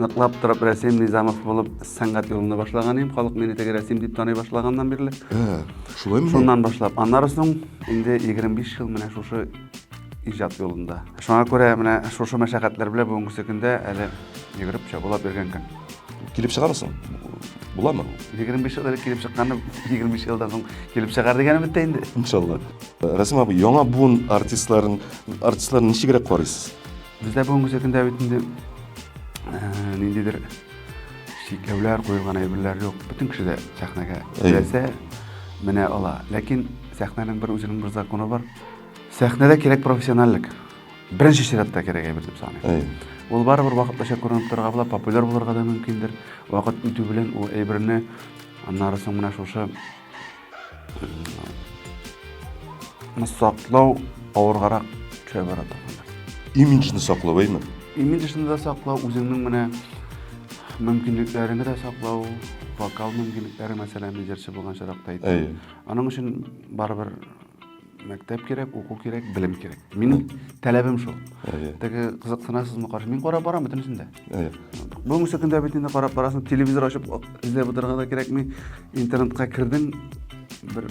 Ныклап торып Рәсим Низамов булып сәнгать юлымны башлаган идем. Халык мине теге Рәсим дип таный башлаганнан бирле. Ә, шулаймы? Шуннан башлап. Аннары соң инде 25 ел менә шушы иҗат юлында. Шуңа күрә менә шушы мәшәкатьләр белән бүгенге көндә әле йөгереп чабулап йөргән көн. Килеп чыгармы соң? Буламы? 25 ел элек килеп чыкканны 25 елдан соң килеп чыгар дигәне бит инде. Иншалла. Рәсим абый, яңа буын артистларын артистларны ничегрәк карыйсыз? Бездә бүгенге көндә бит инде ниндидер чикләүләр куелган әйберләр юк. Бөтен кеше дә сәхнәгә теләсә менә ала. Ләкин сәхнәнең бер үзенең бер законы бар. Сәхнәдә кирәк профессиональлек. Беренче чиратта кирәк әйбер дип саныйм. Ул барыбер вакытлыча күренеп торырга була, популяр булырга да мөмкиндер. Вакыт үтү белән ул әйберне аннары соң менә шушы Ны саклау авыргарак төшә бара торганда. Имиджны саклау, әйме? Имиджны да саклау, үзеңнең менә мөмкинлекләреңне дә саклау, вокал мөмкинлекләре мәсәлән, җырчы булган чоракта әйтәм. Аның өчен барыбер мәктәп кирәк уку кирәк белем кирәк минем таләбем шул теге кызыксынасызмы каршы мин карап барам бөтенесен дә бүгенге көндә бит инде карап барасың телевизор ачып эзләп утырырга да кирәкми интернетка кердең бер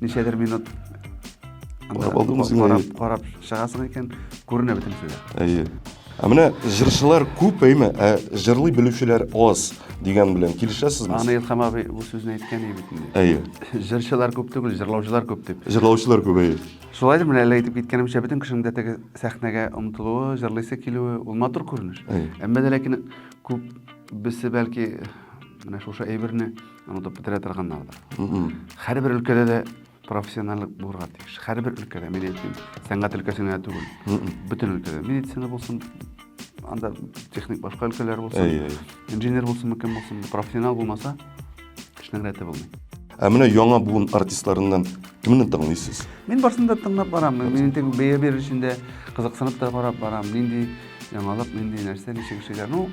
ничәдер минут карап карап чыгасың икән күренә бөтенесе дә әйе Ә менә җырчылар күп, әйме, ә җырлый белүчеләр аз дигән белән килешәсезме? Аны Илхам абый бу сүзне әйткән иде бит инде. Әйе. Җырчылар күп түгел, җырлаучылар күп дип. Җырлаучылар күп, әйе. Шулайдыр, менә әле әйтеп киткәнемчә, бөтен кешенең дә теге сәхнәгә омтылуы, җырлыйсы килүе, ул матур күренеш. Әмма дә ләкин күп бесе бәлки менә шушы әйберне онытып бетерә торганнардыр. Һәрбер өлкәдә дә профессиональлык булырга тиеш һәрбер өлкәдә мин әйтмим сәнгать өлкәсен генә түгел бөтен өлкәдә медицина булсын анда техник башка өлкәләр булсын инженер булсынмы кем булсын профессионал булмаса эшнең рәте булмый ә менә яңа буын артистларыннан кемне тыңлыйсыз мин барысын да тыңлап барамын мин инде бәя бирер өчен дә кызыксынып та карап барамын нинди Яңалык нинди нәрсә ничек эшлиләр? Ну,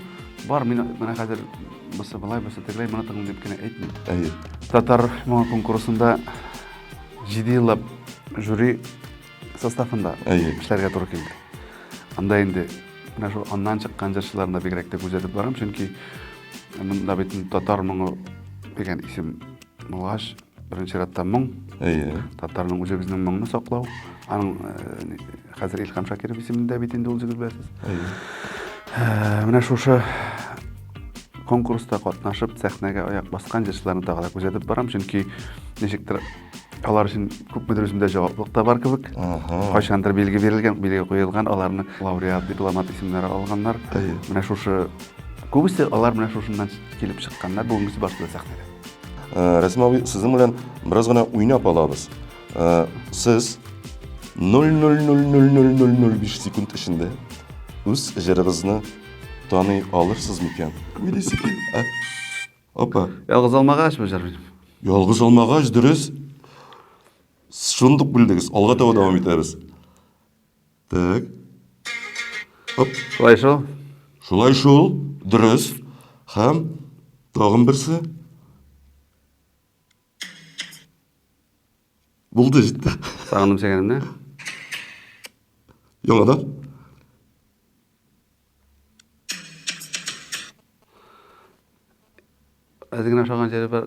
бар, мин менә хәзер бусы былай, бусы тегеләй, моны тыңлыйм дип кенә әйтмим. Әйе. Татар моңа конкурсында 7 еллап жюри составында Әйе. эшләргә туры килде. Анда инде менә шул аннан чыккан җырчыларны бигрәк тә күзәтеп барам, чөнки монда бит татар моңы дигән исем булгач, Беренче чиратта моң. Әйе. Татарның үзе безнең моңны саклау. Аның э, хәзер Илхам Шакиров исемендә бит инде ул җегет беләсез. Әйе. Э, менә шушы конкурста катнашып, сәхнәгә аяк баскан җырчыларны тагы да күзәтеп барам, чөнки ничектер алар өчен күпмедер үземдә җаваплылык та бар кебек. Кайчандыр билге бирелгән, билге куелган, аларны лауреат, дипломат исемнәре алганнар. Менә шушы күбесе алар менә шушыннан килеп чыкканнар, бүгенгесе башта сәхнәдә. Э, Рәсим абый, сезнең белән бераз гына уйнап алабыз. Э, сез 0,0000005 секунд эчендә үз җырыгызны таный алырсыз микән? Уйлыйсы кил. ә? Опа. Ялгыз алмагач бу җыр. Ялгыз алмагач, дөрес. Шундук белдегез. Алга таба дәвам итәбез. Так. Оп. Шулай шул. Шулай шул. Дөрес. Һәм тагын берсе. Булды җитте. Сагындым сәгәнемне. Яңадан. Әз генә ошаган җире бар,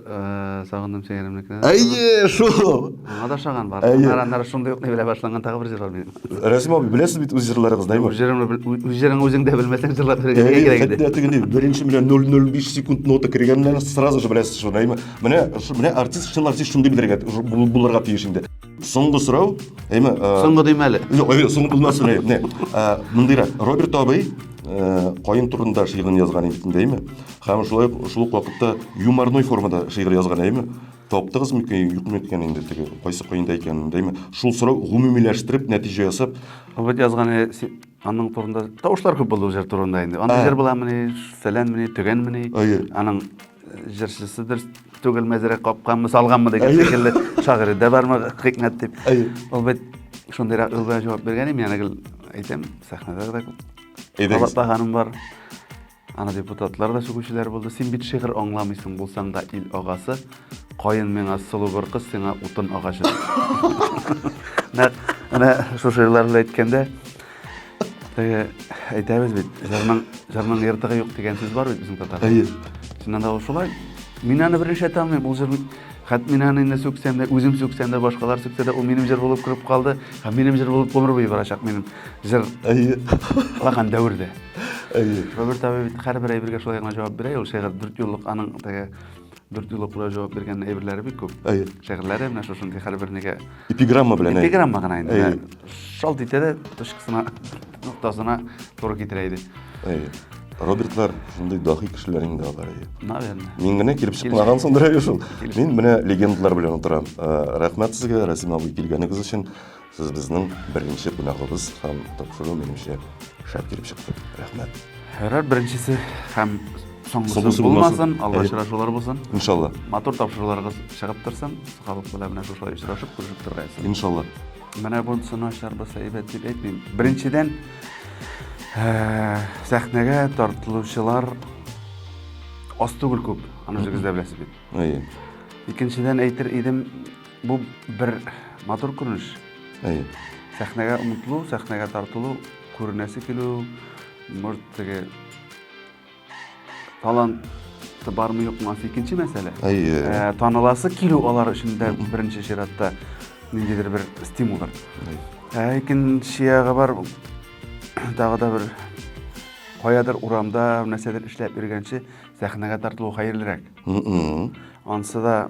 сагындым сеңелемнекенә. Әйе, шул. Аңа да ошаган бар. Нараннар шундый ук белә башлаган тагы бер җыр бар минем. Рәсим абый, беләсез бит үз җырларыгыз, даймы? Үз җырыңны үзең дә белмәсәң җырлап бирергә кирәк иде. Әйе, тегенди беренче менә 005 секунд нота кергәннән сразу же беләсез шуны, даймы? Менә, менә артист, чын артист шундый белергә булырга тиеш инде. Соңгы сорау, әйме? Соңгы дим әле. Юк, әйме, соңгы булмасын, әйме. Не, мындыйрак, Роберт абый кайын турында шигырен язган инде, әйме? Хәм шулай шул ук вакытта юморной формада шигырь язган, әйме? Таптыгыз микән, юк микән инде теге, кайсы кайында икәнен, әйме? Шул сорау гомумиләштереп, нәтиҗә ясап. Роберт язган аның турында тавышлар күп булды җыр турында инде. Аның җыр буламыни, фәләнмени, төгәнмени? Әйе. Аның җырчысы дөрес түгел мәзәрә капканмы салганмы деген шикелле шагыйрьдә бармы хикмәт дип ул бит шундыйрак юл белән җавап биргән идем янә гел әйтәм сәхнәдә дә кабатлаганым бар аны депутатлар да сүгүчеләр булды син бит шигырь аңламыйсың булсаң да ил агасы каен миңа сылу бер кыз сиңа утын агачы нәкъ менә шушы җырлар белән әйткәндә Теге әйтәбез бит, җырның җырның ертыгы юк дигән сүз бар бит безнең татарда. Әйе. Чыннан да ул шулай. Мин аны беренче тәмлим, бу җыр хәт мин аны инде сүксәм дә, үзем сүксәм дә, башкалар сүксә дә, ул минем җыр булып кереп калды, һәм минем җыр булып гомер буе барачак минем җыр. Әйе. Лаган дәвердә. Әйе. Роберт абый бит һәрбер әйбергә шулай гына җавап бирә, ул шигырь дүрт юллык аның теге Дүрт юл укуда җавап биргән әйберләре бик күп. Әйе. Шигырьләре менә шушындый һәрбернегә. Эпиграмма белән. Эпиграмма гына инде. Әйе. Шалт итә дә точкасына, ноктасына туры китерә иде. Әйе. Робертлар шундый дахи кешеләр инде алар. Наверное. Мин генә килеп чыкмагансыңдыр әле шул. Мин менә легендлар белән утырам. Э, рәхмәт сезгә, Расим абый, килгәнегез өчен. Сез безнең беренче кунагыбыз һәм тапшыру минемчә шәп килеп чыкты. Рәхмәт. Һәрәр беренчесе һәм соңгысы булмасын, алда очрашулар булсын. Иншалла. Матур тапшыруларыгыз чыгып торсын. Халык белән менә шушылай очрашып, күрешеп торгайсыз. Иншалла. Менә бунсын ачарбыз, әйбәт дип әйтмим. Беренчедән, сәхнәгә тартылучылар аз түгел күп, аны үзегез дә беләсез бит. Әйе. Икенчедән әйтер идем, Бу бер матур күренеш. Әйе. Сәхнәгә омтылу, сәхнәгә тартылу, күренәсе килү, может, теге таланты бармы юкмы анысы икенче мәсьәлә. Әйе. Ә, таныласы килү алар өчен дә беренче чиратта ниндидер бер стимулдыр. Ә икенче ягы бар, тагы да бер каядыр урамда нәрсәдер эшләп йөргәнче сәхнәгә тартылу хәерлерәк. Ансы да